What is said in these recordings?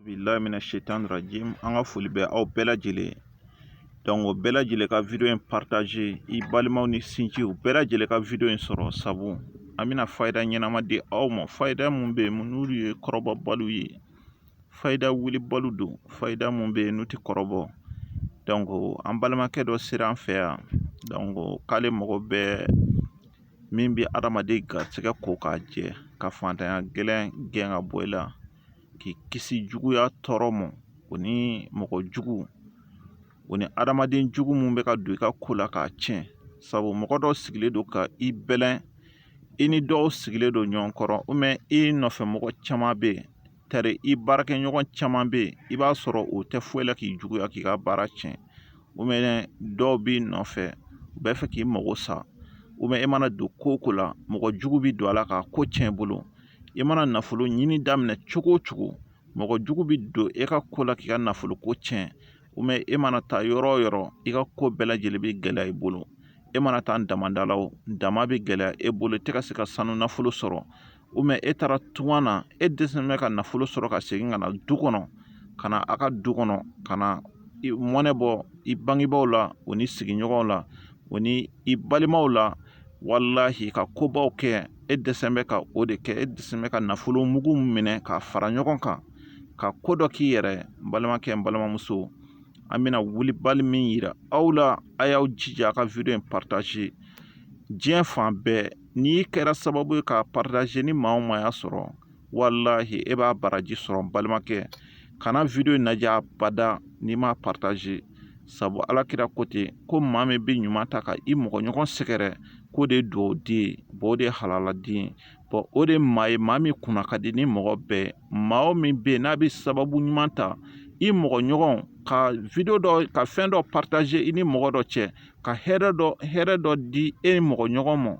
bilahi mina setan rajim an ka foli bɛ aw bɛɛ lajɛlen donc aw bɛɛ lajɛlen ka video in partage i balimaw ni sinjiw bɛɛ lajɛlen ka video in sɔrɔ sabu an bɛna fayida ɲɛnama di aw ma fayida mun bɛ yen n'olu ye kɔrɔbɔbaliw ye fayida wulibaliw don fayida mun bɛ yen n'u tɛ kɔrɔbɔ donc an balimakɛ dɔ sera an fɛ yan donc k'ale mago bɛ min bɛ adamaden garisɛgɛ ko k'a jɛ ka fantanya gɛlɛn gɛn ka bɔ i la k'i kisi juguya tɔɔrɔ ma o ni mɔgɔ jugu o ni adamaden jugu mun bɛ ka don i ka ko la k'a tiɲɛ sabu mɔgɔ dɔ sigilen don ka i bɛlɛn i ni dɔw sigilen don ɲɔgɔn kɔrɔ i nɔfɛ mɔgɔ caman bɛ yen tari i baarakɛɲɔgɔn caman bɛ yen i b'a sɔrɔ u tɛ foyi la k'i juguya k'i ka baara tiɲɛ dɔw b'i nɔfɛ u b'a fɛ k'i mago sa e mana don ko o ko la mɔgɔ jugu bɛ don a la k'a ko tiɲɛ i bolo i mana nafolo ɲini daminɛ cogo o cogo mɔgɔ jugu bɛ don e ka ko la k'i ka nafolo ko tiɲɛ e mana taa yɔrɔ o yɔrɔ i ka ko bɛɛ lajɛlen bɛ gɛlɛya i bolo e mana taa damada la o dama bɛ gɛlɛya e bolo tɛ ka se ka sanu nafolo sɔrɔ e taara tunga na e dɛsɛlen bɛ ka nafolo sɔrɔ ka segin ka na du kɔnɔ ka na a ka du kɔnɔ ka na mɔnɛ bɔ i bangebaaw la o ni sigiɲɔgɔnw la o ni i balimaw la walahi ka kobaw kɛ e dɛsɛlen bɛ ka o de kɛ e dɛsɛlen bɛ ka nafolo mugu minɛ k'a fara ɲɔgɔn kan ka ko dɔ k'i yɛrɛ n balimakɛ n balimamuso an bɛna wulibali min yira aw la a y'aw jija a ka video in partage diɲɛ fan bɛɛ n'i kɛra sababu ye k'a partage ni maa o maa y'a sɔrɔ walahi e b'a baraji sɔrɔ n balimakɛ kana video in lajɛ abada n'i m'a partage sabu ala kira ko ten ko maa min bɛ ɲuman ta ka i mɔgɔ ɲɔgɔn sɛgɛrɛ k'o de ye duwawu den ye o de ye halala den ye bon o de ye maa ye maa min kunna ka di ni mɔgɔ bɛɛ ye maa o min bɛ yen n'a bɛ sababu ɲuman ta i mɔgɔ ɲɔgɔn ka video dɔ ka fɛn dɔ partage i ni mɔgɔ dɔ cɛ ka hɛrɛ dɔ hɛrɛ dɔ di e mɔgɔ ɲɔgɔn ma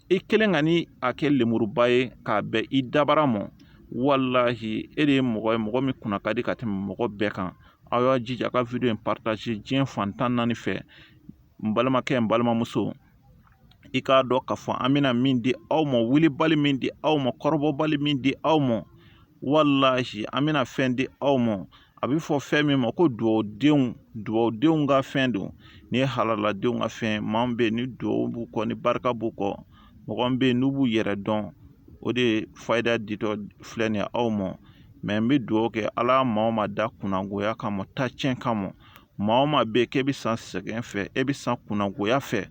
i kelen kana a kɛ lenmuruba ye k'a bɛn i dabara ma walahi e de ye mɔgɔ ye mɔgɔ min kunna ka di ka tɛmɛ mɔgɔ bɛɛ kan aw y'a jija a ka video in partage diɲɛ fan tan naani fɛ n balimakɛ n balimamuso i k'a dɔn k'a fɔ an bɛna min di aw ma wulibali min di aw ma kɔrɔbɔbali min di aw ma walahi an bɛna fɛn di aw ma a bɛ fɔ fɛn min ma ko dugawudenw dugawudenw ka fɛn don nin ye halaladenw ka fɛn maa min bɛ yen ni dugawu b'u kɔ ni barika b'u kɔ mɔgɔ min bɛ yen n'u b'u yɛrɛ dɔn o de fayida ditɔ filɛ nin ye aw ma mais n bɛ dugawu kɛ ala maa o maa da kunnangoya kama taacɛn kama maa o maa bɛ yen k'e bɛ sa sɛgɛn fɛ e bɛ sa kunnangoya fɛ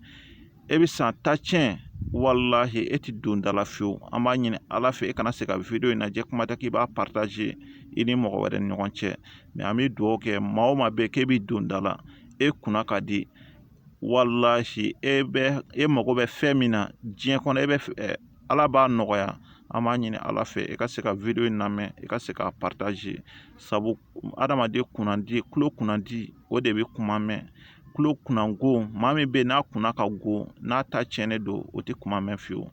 e bɛ san tan tiɲɛ walahi e ti don da la fiyewu an b'a ɲini ala fɛ e kana se ka wideyo in lajɛ kuma tɛ k'i b'a partager i ni mɔgɔ wɛrɛ ni ɲɔgɔn cɛ mɛ an bɛ dugawu kɛ maa o maa bɛ k'e bɛ don da la e kunna ka di walahi e bɛ e mago bɛ fɛn min na diɲɛ kɔnɔ bɛɛ ala b'a nɔgɔya an b'a ɲini ala fɛ e ka se ka wideyo in lamɛn e ka se k'a partager sabu adamaden kunnandi kulo kunnandi o de bɛ kuma mɛn kulo kunna go maa min bɛ yen n'a kunna ka go n'a ta cɛnnen don o tɛ kuma mɛn fiyewu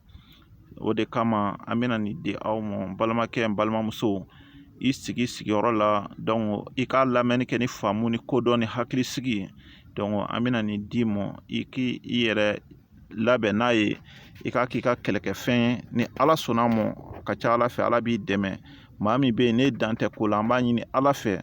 o de kama an bɛna nin di aw ma balimakɛ n balimamuso i sigi sigiyɔrɔ la donc i k'a lamɛnni kɛ ni faamu ni kodɔn ni hakili sigi ye donc an bɛna nin d'i ma i k'i i yɛrɛ labɛn n'a ye i k'a k'i ka kɛlɛkɛfɛn ye ni ala sɔnna a ma ka ca ala fɛ ala b'i dɛmɛ maa min bɛ yen n'e dan tɛ ko la an b'a ɲini ala fɛ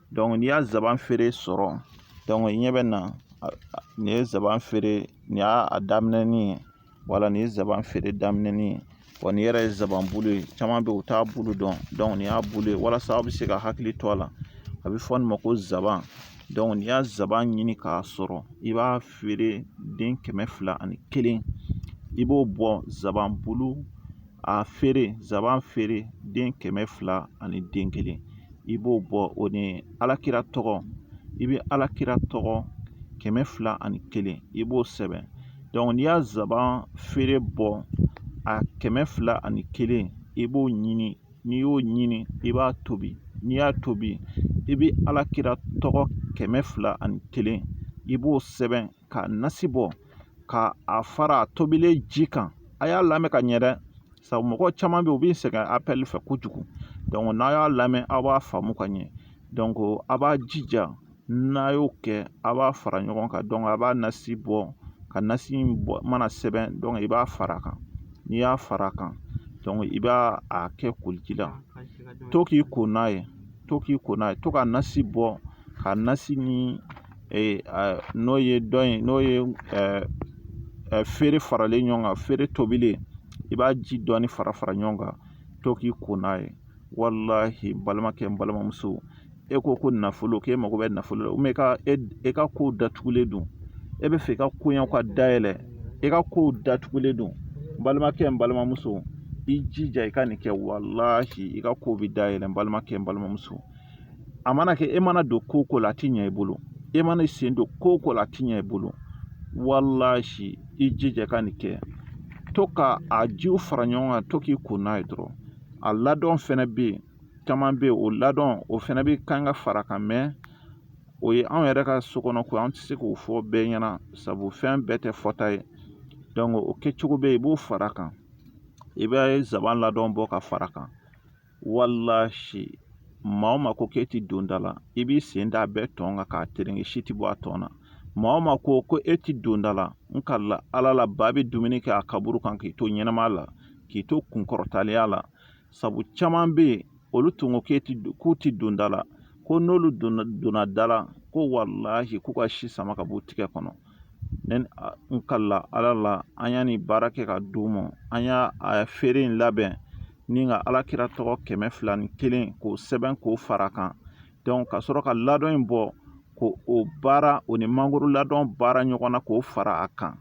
n'i y'a zaban feere sɔrɔ donc i ɲɛ bɛ na nin ye zaban feere nin y'a daminɛni ye voilà nin ye zaban feere daminɛni ye wa nin yɛrɛ ye zaban bulu ye caman bɛ yen u t'a bulu dɔn donc nin y'a bulu ye walasa aw bɛ se ka hakili to a la a bɛ fɔ nin ma ko zaban donc n'i y'a zaban ɲini k'a sɔrɔ i b'a feere den kɛmɛ fila ani kelen i b'o bɔ zaban bulu a feere zaban feere den kɛmɛ fila ani den kelen i b'o bɔ o ni alakira tɔgɔ i bɛ alakira tɔgɔ kɛmɛ fila ani kelen i b'o sɛbɛn donc n'i y'a zaban feere bɔ a kɛmɛ fila ani kelen i b'o ɲini n'i y'o ɲini i b'a tobi n'i y'a tobi i bɛ alakira tɔgɔ kɛmɛ fila ani kelen i b'o sɛbɛn k'a nasi bɔ ka a fara tobilen ji kan a y'a lamɛn ka ɲɛ dɛ sabu mɔgɔ caman bɛ yen u bɛ sɛgɛn apɛli fɛ kojugu donc n'a y'a lamɛn aw b'a faamu ka ɲɛ donc a b'a jija n'a y'o kɛ a b'a fara ɲɔgɔn kan donc a b'a nasi bɔ ka nasi in mana sɛbɛn i b'a fara a kan n'i y'a fara a kan i b'a kɛ koliji la to k'i ko n'a ye to k'i ko n'a ye to ka nasi bɔ ka nasi ni n'o ye dɔn in n'o ye feere faralen ɲɔgɔn kan feere tobilen i b'a ji dɔɔni fara fara ɲɔgɔn kan to k'i ko n'a ye walahi n balimakɛ n balimamuso e ko ko nafolo k'e mago bɛ nafolo la e ka e ka kow datugulen don e bɛ fɛ i ka koɲɛw ka dayɛlɛ e ka kow datugulen don n balimakɛ n balimamuso i jija i ka nin kɛ walahi i ka kow bɛ dayɛlɛ n balimakɛ n balimamuso a mana kɛ e mana don ko o ko la a ti ɲɛ i bolo e mana i sen don ko o ko la a ti ɲɛ i bolo walahi i jija ka nin kɛ to ka a jiw fara ɲɔgɔn kan to k'i ko n'a ye dɔrɔn a ladɔn fɛnɛ bɛ yen caman bɛ yen o ladɔn o fɛnɛ bɛ kan ka fara a kan mɛ o ye anw yɛrɛ ka so kɔnɔ ko an tɛ se k'o fɔ bɛɛ ɲɛna sabu fɛn bɛɛ tɛ fɔta ye dɔnki o kɛcogo bɛ yen i b'o fara a kan i bɛ zaban ladɔn bɔ ka fara a kan walahi maa ma ko k'e tɛ don da la i b'i sen da a bɛɛ tɔn kan k'a tereke si tɛ bɔ a tɔn na maa ma ko ko e tɛ don da la n kalila ala la ba bɛ dumuni kɛ a kaburu kan k'i to ɲɛnama la k'i to kunkɔrɔtaliya la sabu caman bɛ yen olu tun ko k'u tɛ don da la ko n'olu donna da la ko walahi k'u ka si sama ka b'u tigɛ kɔnɔ ne n kalila ala la an ye nin baara kɛ ka d'u ma an y'a feere in labɛn nin ka ala kira tɔgɔ kɛmɛ fila ni kelen k'o sɛbɛn k'o fara a kan dɔnki ka sɔrɔ ka ladɔn in bɔ k'o baara o ni mangoro ladɔn baara ɲɔgɔn na k'o fara a kan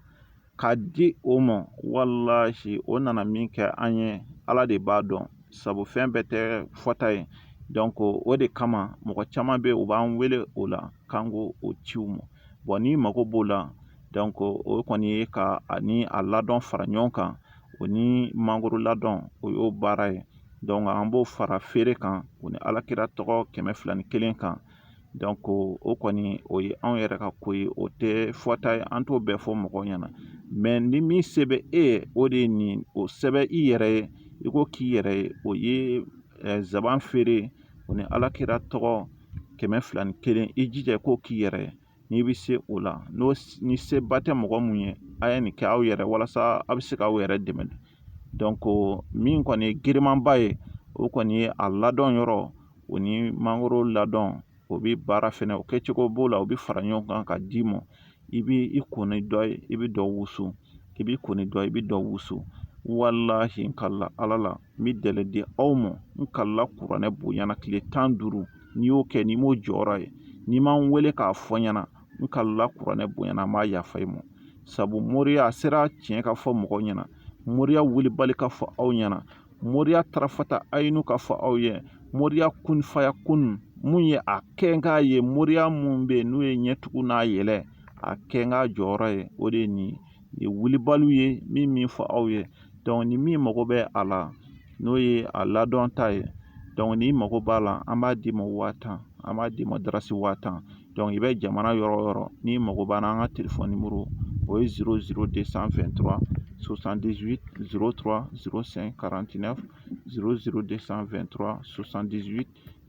ka di o ma walahi o nana min kɛ an ye ala de b'a dɔn sabu fɛn bɛɛ tɛ fɔta ye dɔnki o de kama mɔgɔ caman bɛ yen u b'an wele o la k'an k'o ci u ma n'i mago b'o la dɔnki o kɔni ye ka a ni a ladɔn fara ɲɔgɔn kan o ni mangoro ladɔn o y'o baara ye dɔnki an b'o fara feere kan o ni ala kira tɔgɔ kɛmɛ fila ni kelen kan dɔnki o kɔni o ye anw yɛrɛ ka ko ye o tɛ fɔta ye an t'o bɛɛ fɔ mɔgɔw ɲɛna mɛ ni min se bɛ e ye o de ye nin o sɛbɛn i yɛrɛ ye i k'o k'i yɛrɛ ye o ye nsaban feere o ni ala kira tɔgɔ kɛmɛ fila ni kelen i jija i k'o k'i yɛrɛ ye n'i bɛ se o la n'o ni seba tɛ mɔgɔ min ye a ye nin kɛ aw yɛrɛ walasa a bɛ se k'aw yɛrɛ dɛmɛ dɔnki min kɔni ye girinmanba ye o kɔni ye a ladɔn yɔrɔ o ni mangoro ladɔn o bɛ baara fɛnɛ o kɛcogo b'o la o bɛ fara ɲɔgɔn kan ka d'i ma i b'i ko ni dɔ ye i bɛ dɔ wusu i b'i ko ni dɔ ye i bɛ dɔ wusu walahi n kalila ala la n bɛ delɛ di aw ma n kalila kuranɛ bonya na tile tan ni duuru n'i y'o kɛ n'i m'o jɔyɔrɔ ye n'i m'an wele k'a fɔ n ɲɛna n kalila kuranɛ bonya na n m'a yafa i ma sabu moriya a sera tiɲɛ ka fɔ mɔgɔw ɲɛna moriya wulibali ka fɔ aw ɲɛna moriya tarafata ayinu ka fɔ aw ye moriya kun fayakun min ye a kɛ n k'a ye moriya min bɛ yen n'o ye ɲɛtugu n'a yɛlɛ a kɛ n k'a jɔyɔrɔ ye o de ye nin ye ye wulibaliw ye min min fɔ aw ye dɔnki ni min mago bɛ a la n'o ye a ladɔn ta ye dɔnki n'i mago b'a la an b'a d'i ma waa tan an b'a d'i ma darasi waa tan dɔnki i bɛ jamana yɔrɔ o yɔrɔ n'i mago b'an na an ka telefɔni nimɔrɔ o ye 00223 68 03 05 49 00223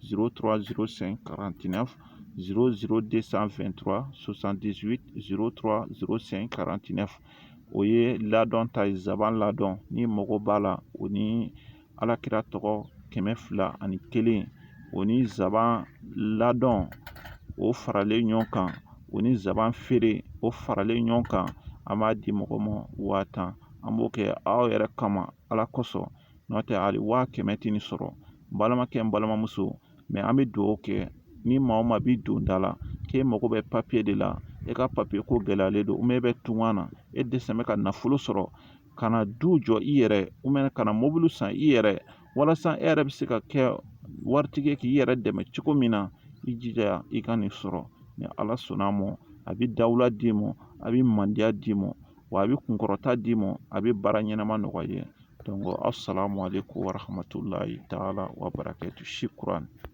00249 o ye ladɔn ta ye nsaban ladɔn ni mago b'a la o ni ala kira tɔgɔ kɛmɛ fila ani kelen o ni nsaban ladɔn o faralen ɲɔgɔn kan o ni nsaban feere o faralen ɲɔgɔn kan an b'a di mɔgɔ ma waa tan an b'o kɛ aw yɛrɛ kama ala kosɔn n'o tɛ hali waa kɛmɛ tɛ nin sɔrɔ balimakɛ n balimamuso mɛ an bɛ dugawu kɛ ni maa o maa b'i don da la k'e mago bɛ papiye de la e ka papiye ko gɛlɛyalen don mɛ e bɛ tunga na e dɛsɛ bɛ ka nafolo sɔrɔ ka na du jɔ i yɛrɛ mɛ ka na mobili san i yɛrɛ walasa e yɛrɛ bɛ se ka kɛ waritigi k'i yɛrɛ dɛmɛ cogo min na i jija i ka nin sɔrɔ ni ala sɔnna a ma a bɛ dawula d'i ma a bɛ mandiya d'i ma wa a bɛ kunkɔrɔta d'i ma a bɛ baara ɲɛnama nɔgɔya i ye asalamu alayikum warahamatulayi taala wabarakatu shukran